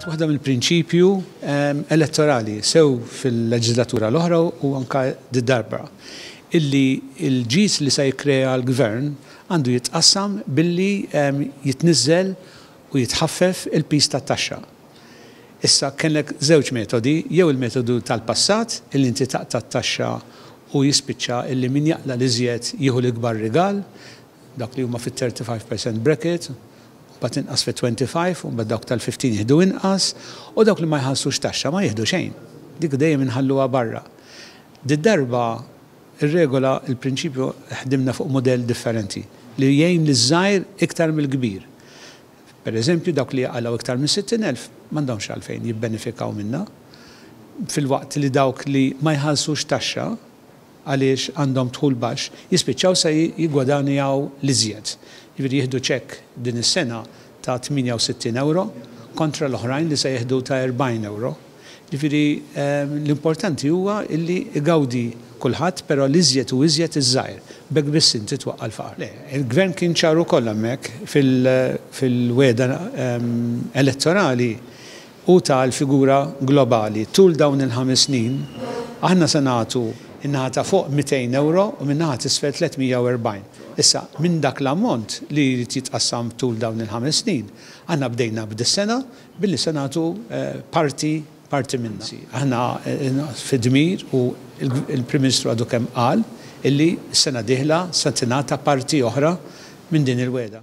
Kienet waħda mill-prinċipju ehm, elettorali sew fil-leġislatura l-oħra u anka d-darba illi il-ġis li se jikkrea l-gvern għandu jitqassam billi ehm, jitniżżel u jitħaffef il-pis tat-taxxa. Issa kellek żewġ metodi, jew il-metodu tal-passat illi inti taqta' t-taxxa u jispiċċa illi min jaqla l-iżjed jieħu l-ikbar rigal, Dawk li huma fit-35 percent bracket, mbagħad inqas fit-25 u mbagħad dawk tal-15 jieħdu inqas, u dawk li ma jħallsux taxxa ma jieħdu xejn. Dik dejjem inħalluha barra. Did-darba r-regola, il-prinċipju ħdimna fuq mudell differenti li jgħin liż-żgħir iktar mill-kbir. Pereżempju, dawk li jaqalgħu iktar minn 60,000 m'għandhomx għalfejn jibbenefikaw minnha, filwaqt li dawk li ma jħallsux taxxa, għaliex għandhom dħul baxx, jispiċċaw se jiggwadanjaw l-iżjed. Jiġifieri jieħdu ċekk din is-sena ta' 68 ewro kontra l-oħrajn li se jieħdu ta' 40 ewro. Jiġifieri l-importanti huwa li jgawdi kulħadd però l-iżjed u iżjed iż-żgħir. B'hekk biss inti twaqqa' l-faqar. Le, il-Gvern kien ċar ukoll hemmhekk fil-wegħda elettorali u ta' l-figura globali. Tul dawn il-ħames snin, aħna se nagħtu in-naħa ta' fuq 200 ewro u min-naħa t'isfel 340. Issa, minn dak l-ammont li jrid jitqassam tul dawn il-ħames snin, aħna bdejna b'dis-sena billi se nagħtu parti parti minnha. Aħna fi dmir u l-Prim Ministru għadu kemm qal illi s-sena d-dieħla se tingħata parti oħra minn din il-wegħda.